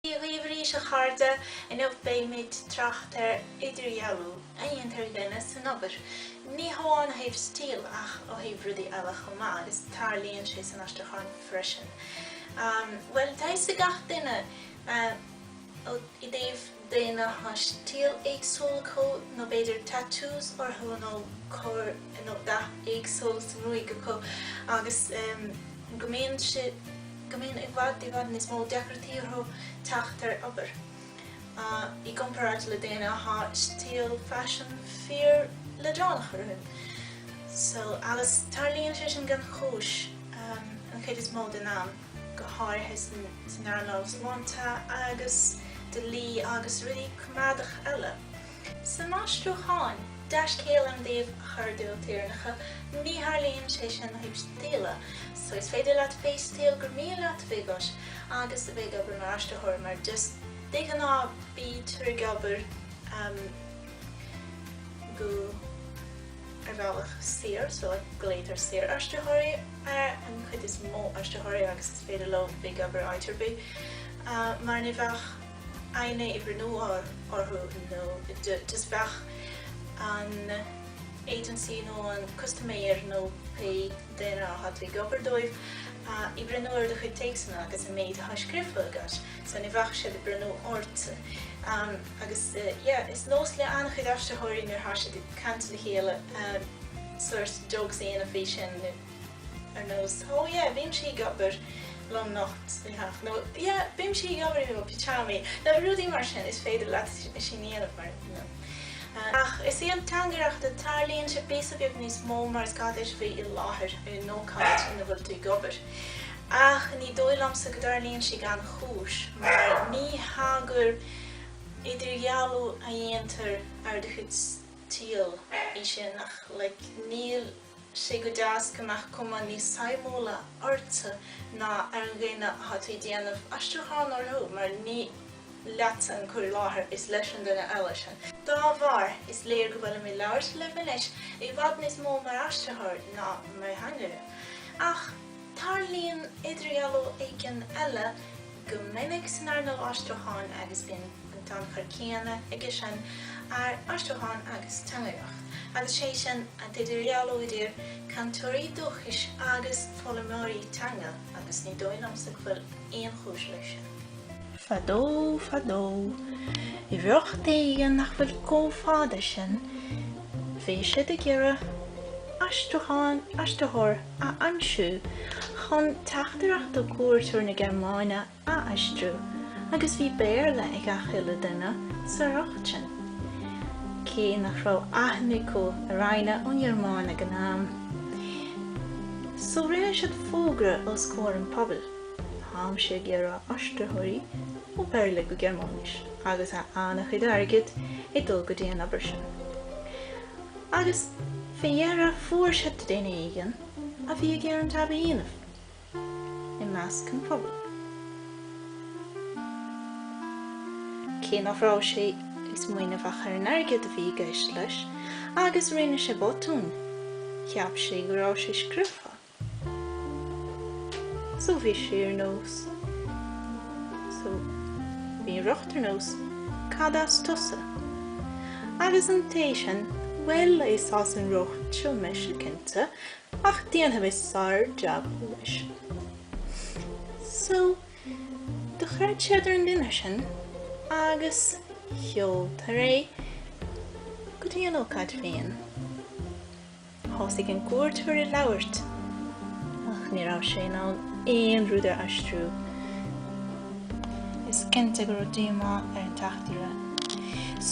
Dia dhaoibh arís a chairde, inniu beidh mé ag trácht ar idirdhealú a dhéantar ag daoine san obair, ní hamháin ó thaobh stíl ach ó thaobh rudaí eile chomh maith agus tarlaíonn sé san aistriúcháin freisin. Bhuel, deir gach duine i dtaobh daoine atá stíl éagsúil acu nó b'fhéidir tattoos orthu nó cur nó dath éagsúil sa ngruaig acu agus go mbíonn siad. go mbíonn i bhfad i bhfad níos mó deacra orthu teacht ar obair i gcomparáid le daoine atá stíl faisin fíorleadránach orthu. So, agus tarlaíonn sé sin gan chúis an chuid is mó den am, go háirithe san earnáil sláinte agus dlí agus rudaí coimeádach eile. San aistriúchán, dea-scéal an taobh chuardáil tíoránacha, ní tharlaíonn sé sin ó thaobh stíle, so is féidir leat pé stíl gur mian leat bhith agat agus a bhith ag obair mar aistritheoir mar just de ghnáth bítear ag obair go ar bhealach saor, so glaotar saoraistritheoirí ar an chuid is mó aistritheoirí agus is féidir leo bhith ag obair áit ar bith mar ní bheadh. éinne ag breathnú orthu, just bheadh an agency nó an custaiméir nó pé duine atá tú ag obair dóibh ag breathnú ar do chuid téacsanna agus an méid atá scríofa agat so ní bheadh siad ag breathnú ortsa agus yeah is nós le an-chuid aistritheoirí nuair atá siad ag caint le chéile sórt jokes a dhéanamh faoi sin Ar nós, Oh yeah, bímse ag obair lomnocht nó Yeah, bímse ag obair i mo pyjamas, nó rudaí mar sin, is féidir leat sin a dhéanamh, mar you know. Ach sa teangaireacht, tarlaíonn sé píosa beag níos mó mar is gá duit a bheith i láthair ar an ócáid ina bhfuil tú ag obair. Ach ní dóigh liomsa go dtarlaíonn sé gan chúis, mar ní hea gur idirdhealú a dhéantar ar do chuid stíl é sin, ach like níl sé go deas go mbeadh cuma níos suimiúla ortsa ná ar dhaoine atá tú ag déanamh aistriúchán orthu mar ní leatsa an cur i láthair, is leis an duine eile sin. Dá bharr, is léir go bhfuil mé ag labhairt libh anois i bhfad níos mó mar aistritheoir ná mar theangaire. Ach tarlaíonn idirdhealú éigin eile, Go minic san earnáil aistriúcháin agus bíonn an tionchar céanna aige sin ar aistriúchán agus teangaireacht, agus is é sin an t-idirdhealú idir cainteoirí dúchais agus foghlaimeoirí teanga agus ní dóigh liomsa go bhfuil aon chúis leis sin. Fadó, fadó, i ríocht éigin nach bhfuil chomh fada sin, bhíodh siad ag iarraidh aistriúchán, aistritheoir, a aimsiú chun teachtaireacht do chuairteoir na Gearmáine a aistriú agus bhí Béarla ag gach uile duine sa ríocht sin, cé nach raibh aithne acu ar éinne ón nGearmáin ag an am. So rinne siad fógra os comhair an phobail, Táimid ag iarraidh aistritheoirí ó Bhéarla go Gearmáinis agus tá an-chuid airgid ag dul go dtí an obair sin. agus fé dheireadh fuair sé duine éigin a bhí ag iarraidh an jab a dhéanamh i measc an phobail, cé nach raibh sé ag smaoineamh ach ar an airgead a bhí i gceist leis, agus rinne sé botún, cheap sé go raibh sé scriofa. So bhí sé ar nós. So bhí an ríocht ar nós, cad as tusa? Agus an té sin, bhuel is as an ríocht seo mise, cinnte, ach déanfaidh mé sár jab leis. So do chreid siad ar an duine sin agus seoltar é go dtí an ócáid féin. Thosaigh an cuairteoir ag labhairt ach ní raibh sé in ann aon rud a aistriú. Is cinnte go raibh díomá ar an teachtaire,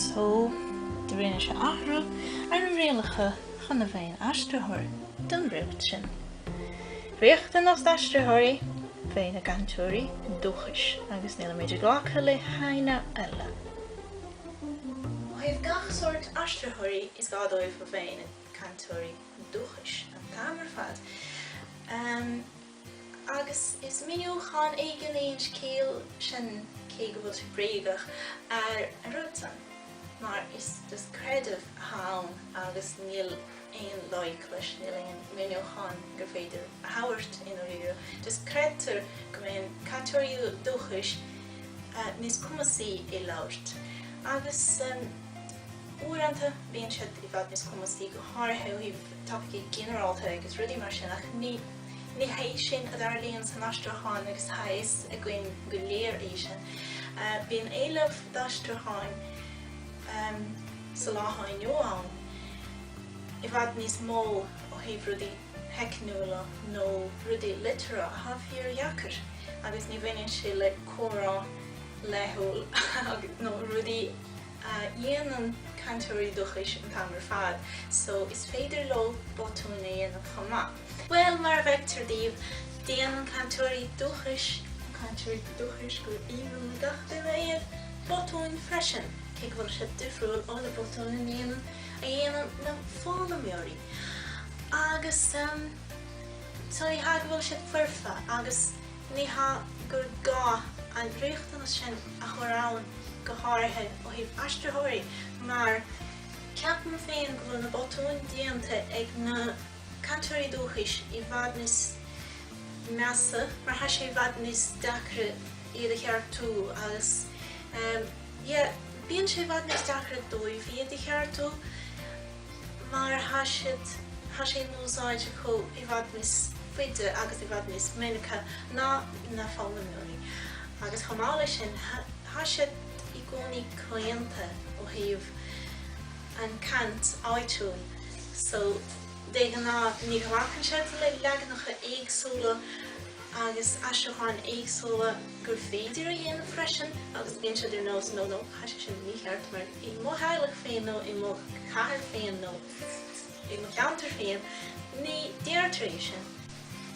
so do rinne sé athrú ar na rialacha chun a bheith ina aistritheoir don ríocht sin. Riachtanas d'aistritheoirí bheith ina gcainteoirí dúchais agus níl muid ag glacadh le héinne eile. Ó thaobh gach sórt aistritheoirí is gá dóibh a bheith ina gcainteoirí dúchais an t-am ar fad, agus is míniúchán éigin é an scéal sin, cé go bhfuil sé bréagach, ar an rud san, mar is just creideamh atá ann agus níl aon loighic leis, níl aon mhíniúchán gur féidir a thabhairt, i ndáiríre. Just creidtear go mbíonn cainteoirí dúchais níos cumasaí i labhairt, agus. Uaireanta bíonn siad i bhfad níos cumasaí, go háirithe ó thaobh topaicí ginearálta agus rudaí mar sin, ach ní hé sin a tharlaíonn san aistriúchán agus tá a fhios againn go léir é sin. Bíonn éileamh d'aistriúcháin sa lá atá inniu ann i bhfad níos mó ó thaobh rudaí teicniúla nó rudaí liteartha atá fíordheacair agus ní bhaineann sé le comhrá laethúil nó rudaí a dhéanann cainteoirí dúchais an t-am ar fad so is féidir leo botúin a dhéanamh chomh maith. Bhuel, mar a fheictear daoibh, déanann cainteoirí dúchais, na cainteoirí dúchais gur aoibhinn le gach duine iad, botúin freisin, cé go bhfuil siad difriúil ó na botúin a ndéanann, a dhéanann, na foghlaimeoirí. Agus, em, so ní hea go bhfuil siad foirfe agus. Ní hea gur gá an riachtanas sin a chur ann go háirithe ó thaobh aistritheoirí mar ceapaim féin go bhfuil na botúin déanta ag na cainteoirí dúchais i bhfad níos measa mar tá sé i bhfad níos deacra iad a cheartú agus yeah bíonn sé i bhfad níos deacra dóibh iad a cheartú. mar tá siad, tá sé in úsáid acu i bhfad níos faide agus i bhfad níos minice ná na foghlaimeoirí agus chomh maith leis sin, tá siad i gcónaí claonta ó thaobh an chaint áitiúil so de ghnáth ní bhacann siad le leaganacha éagsúla agus aistriúcháin éagsúla gur féidir a dhéanamh freisin agus bíonn siad ar nós no no. tá sé sin mícheart mar i mo theaghlach féin nó i mo chathair féin nó i mo cheantar féin, ní deirtear é sin.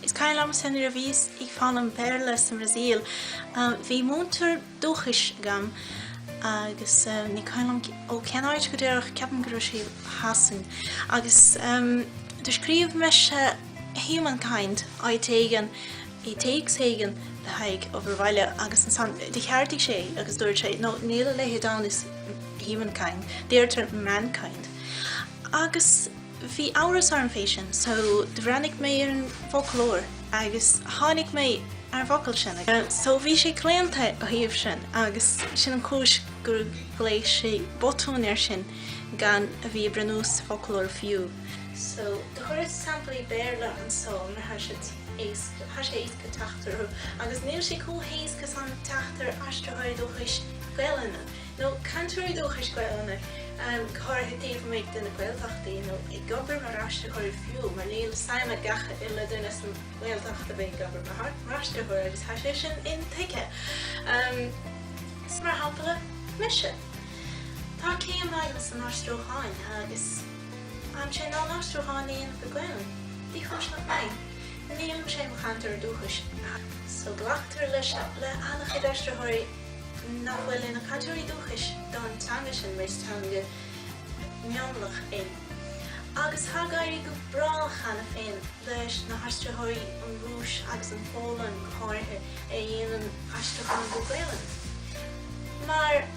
Is cuimhin liomsa nuair a bhíos ag foghlaim Béarla sa mBrasaíl, bhí múinteoir dúchais agam agus ní cuimhin liom ó cén áit go díreach, ceapaim go raibh sé ó Shasana, agus do scríobh mise humankind, áit éigin. i dtéacs éigin le haghaidh obair bhaile agus ansan do cheartaigh sé agus dúirt sé no, níl a leithéid ann is humankind, deirtear mankind agus bhí amhras orm fé sin so do bhreathnaigh mé ar an bhfoclóir agus tháinig mé ar an bhfocal sin so bhí sé claonta ó thaobh sin agus sin an chúis gur ghlaoigh sé botún air sin gan a bheith ag breathnú san fhoclóir fiú so do chuireas samplaí Béarla anso mar tha siad. éasca, tá sé éasca teacht orthu agus níl sé chomh héasca san teacht ar aistritheoirí dúchais Gaelainne, nó cainteoirí dúchais Gaelainne, go háirithe taobh amuigh de na Gaeltachtaí, nó ag obair mar aistritheoirí fiú, mar níl suim ag gach uile duine san nGaeltacht a bheith ag obair mar aistritheoir agus tá sé sin intuigthe. Mar shampla mise, tá céim agam san aistriúchán agus. déanaimse na haistriúcháin féin go Gaelainn, ní cúis nach mbeidh. Nílimse i mo chainteoir dúchais, ach. So glactar leis seo le an-chuid aistritheoirí nach bhfuil ina cainteoirí dúchais don teanga sin mar is teanga mhionlaigh é. Agus tá ag éirí go breá cheana féin leis na haistritheoirí ón Rúis agus an Phólainn go háirithe a dhéanann aistriúcháin go Gaelainn mar.